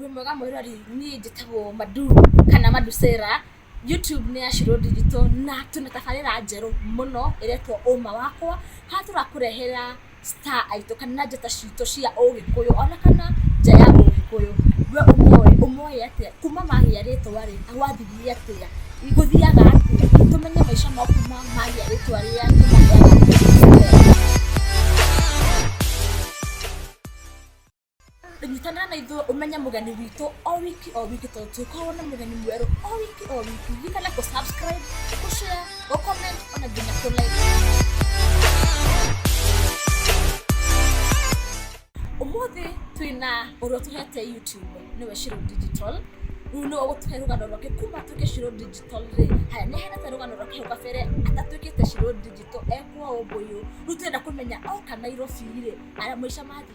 wĩ mwega mwĩrori niĩ njĩtagwo madu kana madusera youtube nĩ ya shiro digital na twĩna tabarĩra njerũ mũno ĩretwo ũma wakwa haha tũrakũrehera star aitũ kana njata citũ cia ũgĩkũyũ ona kana nja ya ũgĩkũyũ we ũmoĩ ũmoĩ atĩa kuma magĩa rĩtwa rĩ gwathirie atĩa gũthiaga atĩa tũmenye maica mau kuma magĩa rĩtwa rĩa tũmagĩa nyitana na ithuĩ ũmenye mũgeni witũ o wiki o wiki tondũ tũkorwo na mũgeni mwerũ o wiki o wiki gikana kũ subscribe kũ share kũ comment ona nginya kũ like ũmũthĩ twĩna ũrĩa tũhete youtube nĩwe shiro digital rĩu nĩwe ũgũtũhe rũgano rwake kuma atuĩke shiro digital rĩ haya nĩ ahenete rũgano rwake hau kabere atatuĩkĩte shiro digital ekwo ũmbũyũ rĩu twenda kũmenya oka nairobi rĩ aya maica mathiĩ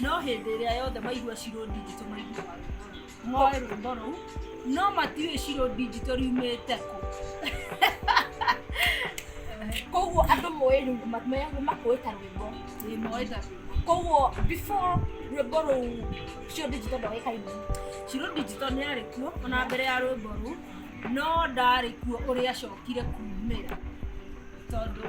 No hĩndĩ ĩrĩa yothe maigua Shiro Digital maiguaga rwĩmbo rũrũ. Moe rwĩmbo rũu no matiũĩ Shiro Digital riumĩte kũ. Koguo andũ moĩ rĩu ma- me- makũĩ ta rwĩmbo. Ĩĩ, moe ta rwĩmbo. Koguo before rwĩmbo rũu Shiro Digital ndoĩkaine. Shiro Digital nĩ arĩ kuo ona mbere ya rwĩmbo rũu no ndarĩ kuo ũrĩa acokire kumĩra tondũ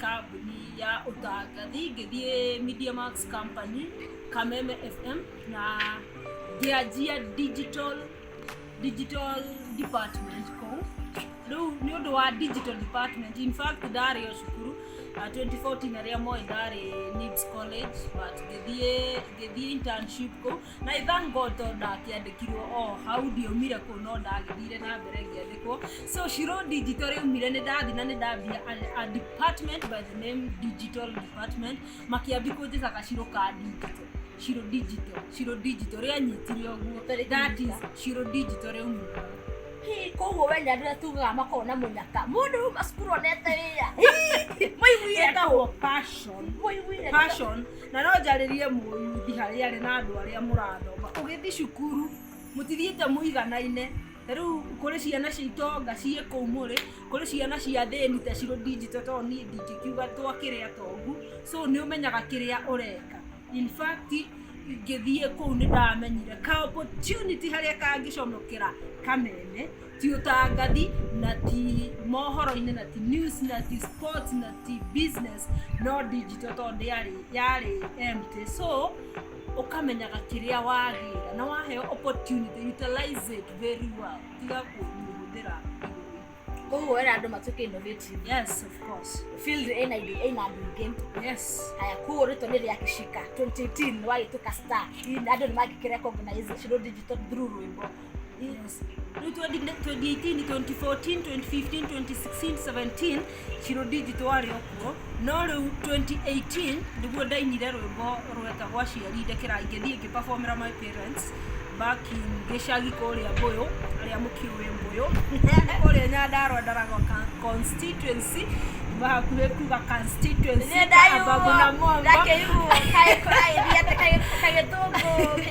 kambuni ya ũtangathi ngĩthiĩ Media Max Company Kameme FM na ngĩanjia digital digital department kũu rĩu nĩ ũndũ wa digital department in fact ndarĩ o cukuru uh, 2014 arĩa moĩ ndarĩ Nips College but ngĩthiĩ ngĩthiĩ internship kũu na i thank god tondũ ndakĩandĩkirwo o hau ndiaumire kũ no ndagĩthire na mbere ngĩandĩkwo so shiro digital rĩaumire nĩ ndathi na nĩ ndambia a- a department by the name digital department makĩambi kũnjĩta gaciro ka digital shiro digital shiro digital rĩanyitire ũguo Tarĩki that is mbica. shiro digital rĩaumire Hii, koguo we nyandu rä tugaga makorwo na munyaka må ndå rä ma cukuru onete wä ra maiguire kũ? etagwo passion må iguire kũ? passion na no njarĩrie mũyuthi harĩa arĩ na andũ arĩa mũrathoma ũgĩthiĩ cukuru mũtithiĩte mũiganaine ta rĩu kũrĩ ciana cia itonga ciĩ kũu mũrĩ kũrĩ ciana cia thĩni ta cirũ ndinjito tondũ niĩ ndingĩkiuga twa kĩrĩa tongu so nĩ ũmenyaga kĩrĩa ũreka in fact ngĩthiĩ kũu nĩ ndamenyire ka opportunity harĩa kangĩcomokera kameme ti ũtangathi na ti mohoro-inĩ na ti news na ti sports na ti business no digital tondũ yarĩ yarĩ empty so ũkamenyaga kĩrĩa wagĩra na waheo opportunity utilize it very well tiga kũmĩhũthĩra koguo wera andũ matuĩke innovative yes of course field ĩna indo ĩna andũ ingĩ yes haya koguo rĩtwa nĩ rĩa kĩcika 2018 nĩ wagĩtuĩka star Hihi andũ nĩ mangĩkĩ recognize Shiro digital through rwĩmbo Yes. Rĩu 2018, 2014, 2015, 2016, 17 Shiro Digital warĩ okuo no rĩu 2018 nĩguo ndainire rwĩmbo rweta gwa ciari ndekera ingĩthiĩ ngĩperformera my parents back in gĩcagi kũrĩa Mbũyũ arĩa mũkĩũĩ Mbũyũ kũrĩa Nyandarua Ndaragwa ka- constituency kuma hakuhĩ kuga constituency Kababu na Momba ndakĩiguo kagĩkũraithia kagĩtũngũ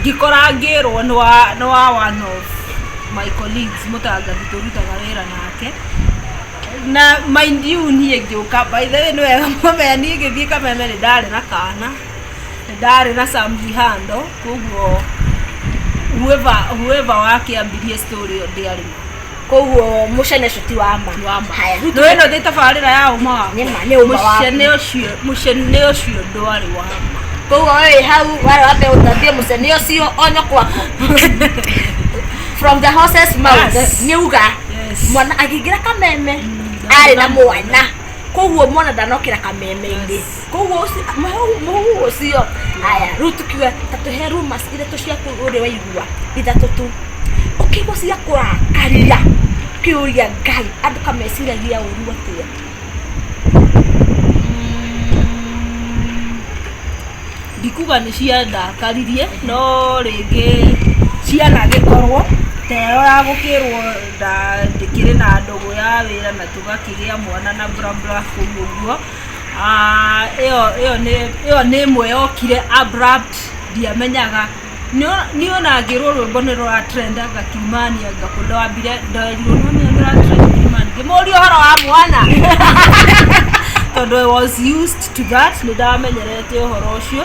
Ngĩkora ngĩrwo nĩ wa nĩ wa one of my colleagues mũtangathi tũrutaga wĩra nake. Na mind you niĩ ngĩũka, by the way nĩ wega mũmenya niĩ ngĩthiĩ kameme nĩ ndarĩ na kana, nĩ ndarĩ na some vihando, koguo whoever whoever wakĩambirie story ĩyo ndĩarĩ ho. koguo mucene ucio ti wa ma Wa ma. haya rĩu Nĩwona ndĩ tabarĩra ya ũma waku. Nĩ ma, nĩ ũma waku. Mũcene ũcio, mũcene ũcio ndwarĩ wa ma. koguo we wĩ hau warĩ wambe ũtambie mucene ucio onyo kwako from the horses mouth Yes. nĩ uga Yes. mwana akĩingĩra kameme arĩ na mwana koguo mwana ndanokĩra kameme-inĩ koguo ũci- mũhu- mũhu ũcio aya rĩu tukiuga ta tũhe rumas ithatũ cia kũu ũrĩa waigua ithatũ tu ũkĩigua cia kũrakaria kĩũria ngai andũ kameciragia ũru atĩa ndikuga nĩ ciandakaririe no rĩngĩ ciana gĩkorwo teo ya gũkĩrwo ndandĩkĩrĩ na ndũgũ ya wĩra na tũgakĩgĩa mwana na burabura kũu ũguo ĩyo nĩ ĩmwe yokire abrupt ndiamenyaga niĩ ona ngĩrwo rwĩmbo nĩ rũra trend anga kiumani anga kũ ndambire nderirwo nĩ ũmenye nĩ rũra trend kiumani ngĩmũria ũhoro wa mwana tondũ I was used to that nĩ ndamenyerete ũhoro ũcio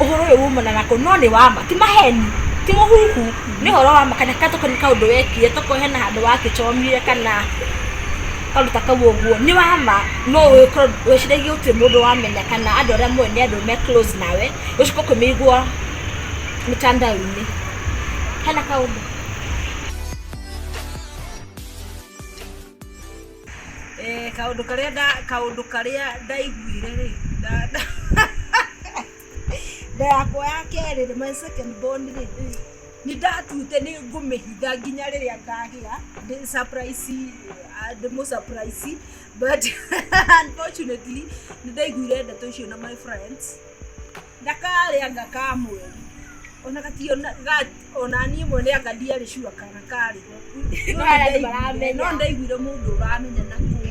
ũhoro ũyũ wumana nakũ no nĩ wama ti maheni ti mũhuhu nĩ ũhoro wa ma kana tokorwo nĩ kaũndũ wekire tokorwo hena handũ wangĩcomire kana kaũndũ ta kau ũguo nĩ wa ma no ũgĩkorwo wĩciragia gũtirĩ mũndũ wamenya kana andũ arĩa mũĩ nĩ andũ me close nawe ũcoke ũkĩmĩigua mĩtandao-inĩ hena kaũndũ? kaũndũ karĩa nda kaũndũ karĩa ndaiguire rĩ nda yakwa ya kerĩ rĩ my second born rĩ nĩ ndatute nĩ ngũmĩhitha nginya rĩrĩa ngagĩa ndĩ surprise ndĩmũ surprise but unfortunately nĩ ndaiguire ndeto icio na my friends ndakarĩa anga ka mweri ona gatio na- ga- ona niĩ mwene anga ndiarĩ cua kana karĩho No Aya nĩ ndaiguire- maramenya. no ndaiguire mũndũ ũramenya na kũu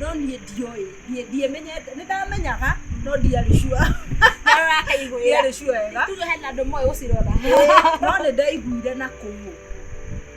no niĩ ndioĩ ndiĩ- ndiĩmenyete nĩ ndamenyaga no ndiarĩ cua Ndakaiguĩra. ndiarĩ cua wega Tuge hena andũ moĩ gũcirora. no nĩ ndaiguire na kũu